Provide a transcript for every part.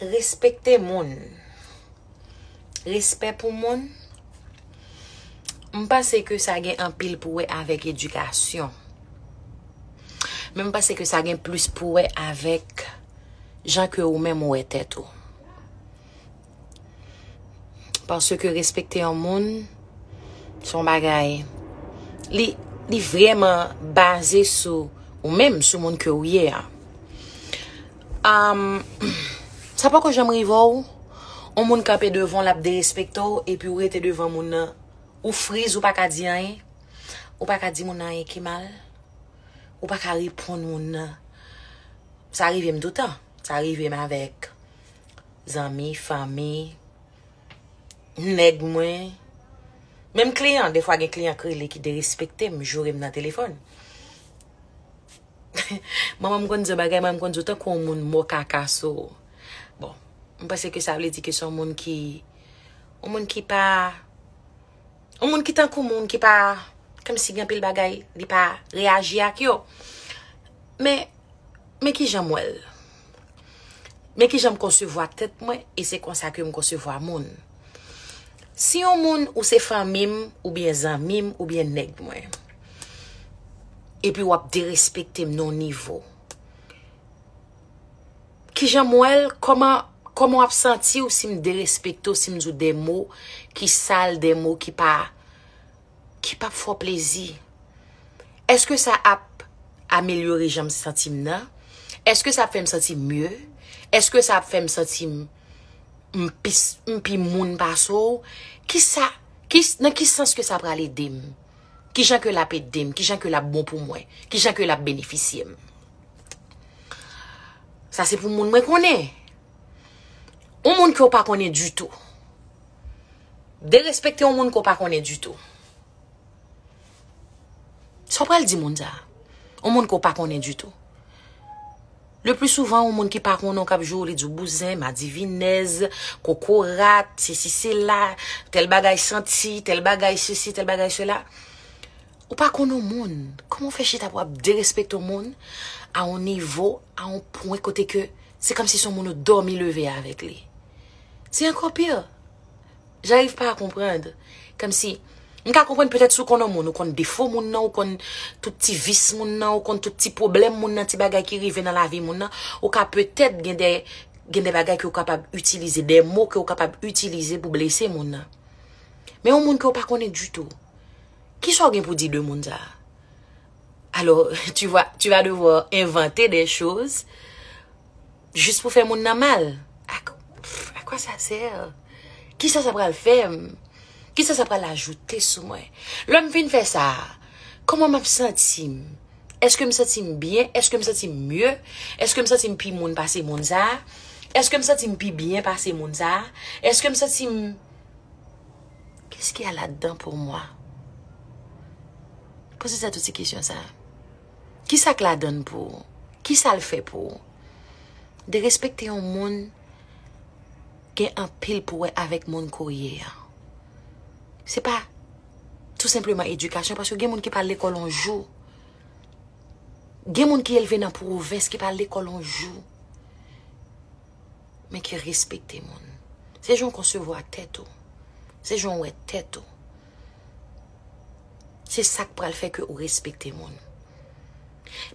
Respekte moun. Respè pou moun. M panse ke sa gen anpil pou wè avèk edikasyon. Men m panse ke sa gen plis pou wè avèk jan ke ou menm ou wè tèt ou. Paske respekte yon moun, son bagay. Li, li vreman baze sou ou menm, sou moun ke ou ye a. Am, sa poko janm rive ou, yon moun kanpe devan w lap derespekte w, epi ou rete devan moun nan, ou friz ou pa ka di anyen, ou pa ka di moun nan anyen ki mal, ou pa ka reponn moun nan. Sa rive m toutan, sa rive m avèk. zanmi, fanmi, nèg mwen, menm kliyan, defwa gen kliyan k rele ki derespekte m, joure m nan telefòn. Manman m konn di yon bagay, manman m konn di w tankou yon moun mò kaka sou ou. Bon, m panse ke sa vle di ke se yon moun ki, yon moun ki pa, yon moun ki tankou moun ki pa, kèm si gen anpil bagay li pa reyaji ak yo. Men, men kijan m wè l? Men ki jan m konsevwa tèt mwen e se konsa ke m konsevwa moun. Si yon moun ou se fanmi m oubyen zanmi m oubyen nèg mwen, epi w ap derespekte m nan yon nivo, ki jan m wè l, kòman, kòman w ap santi w si m derespekte w, si m di w de mo ki sal, de mo ki pa ki pap fè w plezi? Èske sa ap amelyore jan m santi m nan? Èske sa ap fè m santi m mye? Èske sa ap fè m santi m pi moun pase w? Ki sa, nan ki sans ke sa pral ede m? Ki jan ke l ap ede m? Ki jan ke l ap bon pou mwen? Ki jan ke l ap benefisye m? Sa se pou moun mwen konnen. Yon moun ke w pa konnen ditou. Derespekte yon moun ke w pa konnen ditou. Sa w pral di moun sa a? Yon moun ke w pa konnen ditou. Le pli souvan yon moun ki pa konnen w kap jwe w li di w bouzen, madivinèz, kokorat, sesi sela, tèl bagay santi, tèl bagay sesi, tèl bagay sela. Ou pa konnen yon moun. Kouman w fè chita pou w ap derespekte yon moun a yon nivo, a yon pwen kote ke se kòmsi se yon moun ou dòmi leve avèk li. Se anko pir. J'arrive pas à comprendre. Kom si, m ka konprann petèt si w konn yon moun, ou konn defo moun nan, ou konn tout ti vis moun nan, ou konn tout ti pwoblèm moun nan, ti bagay ki rive nan lavi moun nan, ou ka petèt gen de gen de bagay ke w kapab itilize, de mo ke w kapab itilize pou blese moun nan. Men yon moun ke w pa konnen ditou, ki sa w gen pou di de moun sa a? Alo, tu va, tu va devoir inventer des choses Jis pou fè moun nan mal? A quoi ça sert? Kisa sa pral fè m? Kisa sa pral ajoute sou mwen? Lè m fin fè sa, kòman m ap santi m? Èske m santi m byen? Èske m santi m mye? Èske m santi m pi moun pase moun sa a? Èske m santi m pi byen pase moun sa a? Èske m santi m Qu'est-ce qu'il y a là-dedans pour moi? Poze tèt ou ti kesyon sa a. Ki sa k ladan l pou ou? Ki sa l fè pou ou? Derespekte yon moun gen anpil pou wè avèk moun ke w ye a. Se pa tou senpleman edikasyon paske gen moun ki pa al lekòl yon jou. Gen moun ki elve nan pwovens ki pa al lekòl yon jou men ki respekte moun. Se jan w konsevwa tèt ou. Se jan w wè tèt ou. Se sak pral fè ke ou respekte moun.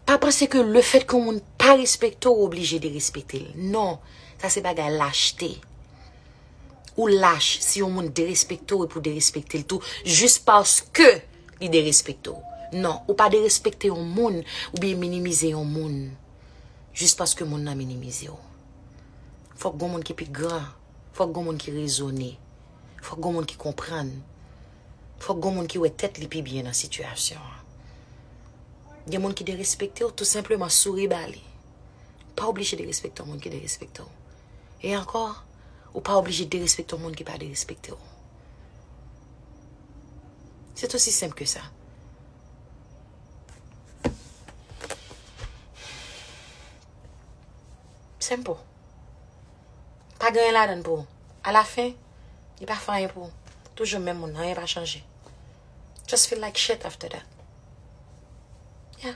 Pa panse ke le fèt ke yon moun pa respekte ou, ou oblije derespekte l. Non, sa se bagay lachte. Ou lach si yon moun derespekte ou epi ou derespekte l tou jis paske li derespekte ou. Non, ou pa derespekte yon moun oubyen minimize yon moun jis paske moun nan minimize ou. Fòk gen yon moun ki pi gran, fòk gen yon moun ki rezone. Fòk gon moun ki konprann. Fòk gon moun ki wè tèt li pi byen nan sitiyasyon an. Gen moun ki derespekte w, tou senpleman souri ba li. Ou pa oblije derespekte yon moun ki derespekte w. E ankò, ou pa oblije derespekte yon moun ki pa derespekte w. Se t osi senp ke sa. Senpo. Pa gen anyen ladan l pou ou. A la fin, li pa fè anyen pou ou. Toujou menm moun, anyen pa chanje. Just feel like shit after that. Yeah.